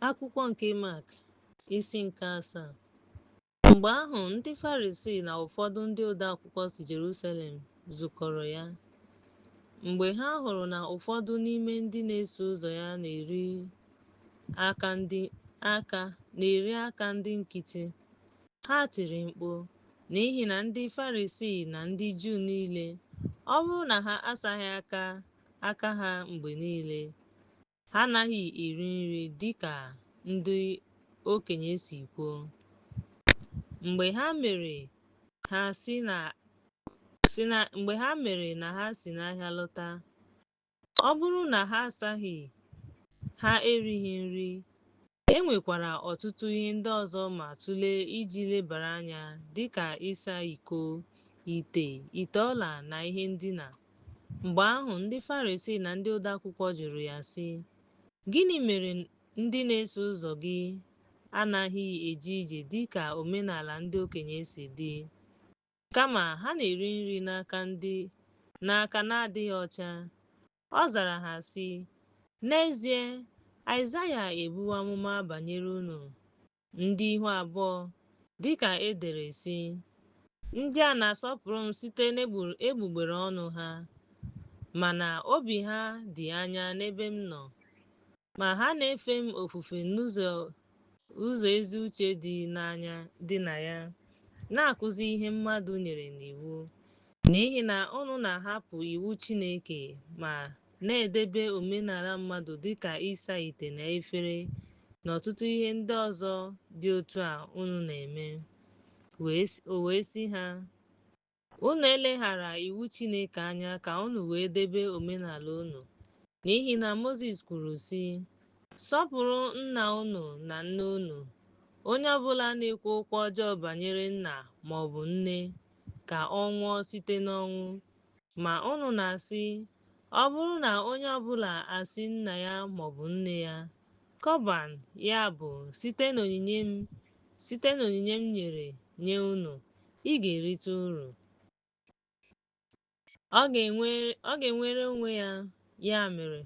Akwụkwọ nke Mak isi nke asaa Mgbe ahụ ndị Farisii na ụfọdụ ndị odeakwụkwọ si Jerusalem zukọrọ ya. Mgbe ha hụrụ na ụfọdụ n'ime ndị na-eso ụzọ ya na-eri aka ndị aka na-eri aka ndị nkịtị, ha tiri mkpu n'ihi na ndị Farisii na ndị Juu niile, ọ bụrụ na ha asaghị aka aka ha mgbe niile, Ha anaghị eri nri dịka ndị okenye si kwuo. Mgbe ha mere ha si na si na mgbe ha mere na ha si n'ahịa lọta, ọ bụrụ na ha asaghị, ha erighị nri E nwekwara ọtụtụ ihe ndị ọzọ ma tụlee iji lebara anya dị ka ịsa iko, ite, ite ọla, na ihe ndina. Mgbe ahụ, ndị Farisii na ndị odeakwụkwọ jụrụ ya, sị, Gịnị mere ndị na-eso ụzọ gị anaghị eje ije dị ka omenala ndị okenye si dị, kama ha na-eri nri n'aka ndị n'aka na-adịghị ọcha? Ọ zara ha, sị, N'ezie, Aịzaya ebuwo amụma banyere unu, ndị ihu abụọ, dị ka e dere, sị, Ndị a na-asọpụrụ m site n'egbugbere ọnụ ha, mana obi ha dị anya n'ebe m nọ, ma ha na-efe m ofufe n'ụzọ Ụzọ ezi uche dị n'anya dị na ya, na-akụzi ihe mmadụ nyere n'iwu, n'ihi na unu na-ahapụ iwu Chineke ma na-edebe omenala mmadụ dị ka ịsa ite na efere na ọtụtụ ihe ndị ọzọ dị otu a unu na-eme. O wee sị ha, Unu eleghara iwu Chineke anya ka unu wee debe omenala unu, n'ihi na Mozis kwuru sị, Sọpụrụ nna unu na nne unu. Onye ọbụla na-ekwu okwu ọjọọ banyere nna maọbụ nne, ka ọ nwụọ site n'ọnwụ. Ma unu na-asị, Ọ bụrụ na onye ọbụla asị nna ya maọbụ nne ya, Kọban, ya bụ, site n'onyinye m, Site n'onyinye m nyere nye unu, ị ga-erite uru. Ọ ga-enwere onwe ya, ya mere,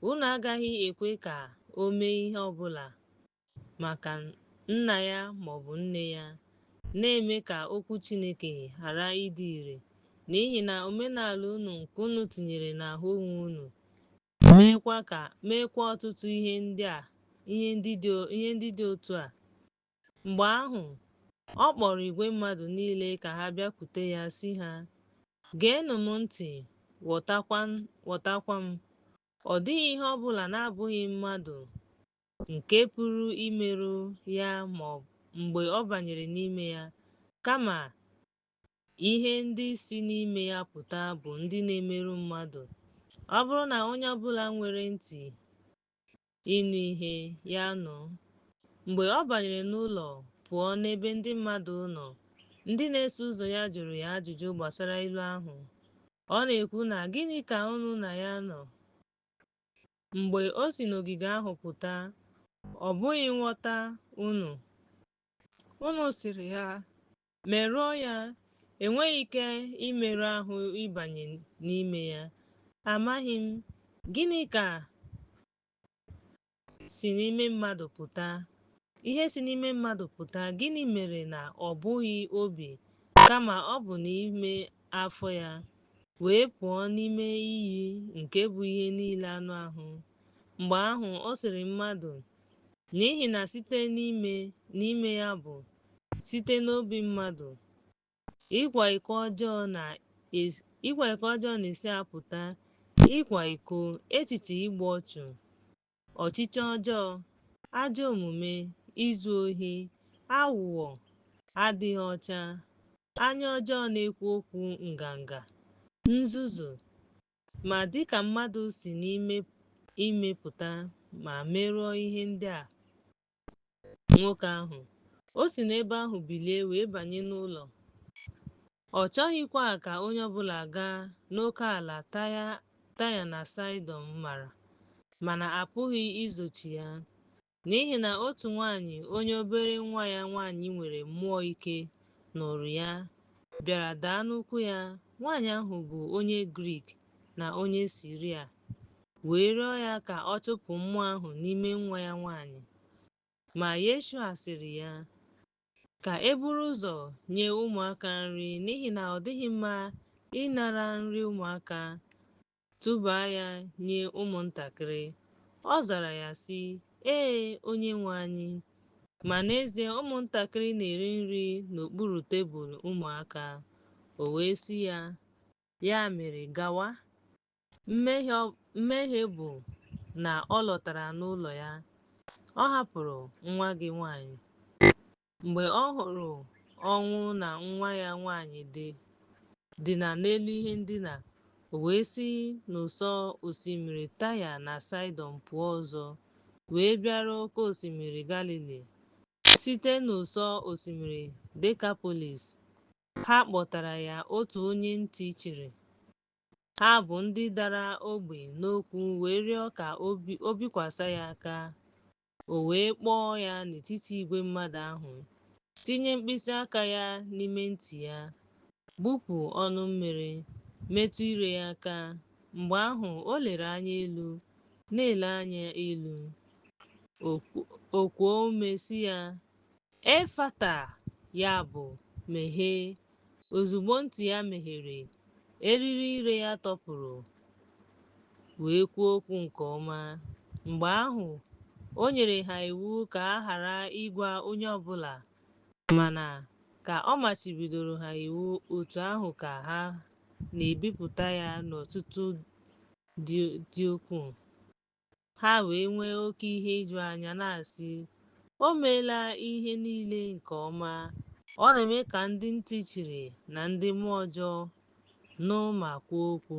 unu agaghị ekwe ka o mee ihe ọ bụla maka nna ya ma ọ bụ nne ya, na-eme ka okwu Chineke ghara ịdị ire, n'ihi na omenala unu nke unu tinyere n'ahụ onwe unu meekwa ọtụtụ ihe ndị dị otu a mgbe ahụ ọ kpọrọ igwe mmadụ niile ka ha bịakwute ya sị ha geenụ m ntị ghọtakwa m ọ dịghị ihe ọ bụla na-abụghị mmadụ nke pụrụ imerụ ya ma mgbe ọ banyere n'ime ya kama Ihe ndị si n'ime ya pụta bụ ndị na-emerụ mmadụ. Ọ bụrụ na onye ọbụla nwere ntị ịnụ ihe, ya nụ. Mgbe ọ banyere n'ụlọ pụọ n'ebe ndị mmadụ nọ, ndị na-eso ụzọ ya jụrụ ya ajụjụ gbasara ilu ahụ. Ọ na-ekwu na gịnị ka unu na ya nọ? Mgbe o si n'ogige ahụ pụta, ọ bụghị nghọta unu. Unu sịrị ya, merụọ ya, enweghị ike imerụ ahụ ịbanye n'ime ya. Amaghị m. Gịnị ka si n'ime mmadụ pụta? Ihe si n'ime mmadụ pụta, gịnị mere na ọ bụghị obi, kama ọ bụ n'ime afọ ya, wee pụọ n'ime iyi nke bụ ihe niile anụ ahụ? Mgbe ahụ ọ sịrị mmadụ, N'ihi na site n'ime, n'ime ya bụ site n'obi mmadụ. Ịkwa iko ọjọọ na-esi apụta ịkwa iko, echiche igbu ọchụ, ọchịchọ ọjọọ, ajọ omume, izu ohi, aghụghọ, adịghị ọcha, anya ọjọọ na-ekwu okwu nganga, nzuzu, ma dịka mmadụ si n'ime pụta ma merụọ ihe ndị a, nwoke ahụ. O si n'ebe ahụ bilie wee banye n'ụlọ. Ọ chọghịkwa ka onye ọ bụla gaa n'oke ala Taya na Saịdọn mara, mana a pụghị izochi ya, n'ihi na otu nwaanyị onye obere nwa ya nwaanyị nwere mmụọ ike nụrụ ya, bịara daa n'ụkwụ ya. Nwaanyị ahụ bụ onye Grik na onye Siria. wee rịọ ya ka ọ chụpụ mmụọ ahụ n'ime nwa ya nwanyị. Ma Yeshua sịrị ya, Ka e buru ụzọ nye ụmụaka nri n'ihi na ọ dịghị mma ịnara nri ụmụaka tụba ya nye ụmụntakịrị. Ọ zara ya sị, Ee, Onyenwe anyị. Ma n'ezie ụmụntakịrị na-eri nri n'okpuru tebụl ụmụaka. O wee sị ya, Ya mere gawa, Mmehie bụ na ọ lọtara n'ụlọ ya. Ọ hapụrụ nwa gị nwaanyị. Mgbe ọ hụrụ ọnwụ na nwa ya nwaanyị dị dina n'elu ihe ndina, o wee si n'ụsọ osimiri Taya na Saịdọn pụọ ọzọ, wee bịaruo oke osimiri Galili. Site n'ụsọ osimiri Dekapolis, ha kpọtara ya otu onye ntị chiri, Ha bụ ndị dara ogbi n'okwu wee rịọ ka o bikwasa ya aka. O wee kpọọ ya n'etiti igwe mmadụ ahụ, tinye mkpịsị aka ya n'ime ntị ya, gbupụ ọnụ mmiri, metụ ire ya aka. Mgbe ahụ, o lere anya elu, na-ele anya elu. O kuo ume sị ya, Efata, ya bụ, meghee. Ozugbo ntị ya meghere, eriri ire ya tọpụrụ wee kwuo okwu nke ọma. Mgbe ahụ, o nyere ha iwu ka a ghara ịgwa onye ọ bụla, mana ka ọ machibidoro ha iwu otu ahụ ka ha na-ebipụta ya n'ọtụtụ dị ukwuu. Ha wee nwee oke ihe iju anya na-asị, O meela ihe niile nke ọma. Ọ na-eme ka ndị ntị chiri na ndị mmụọ ọjọọ nụ ma kwuo okwu.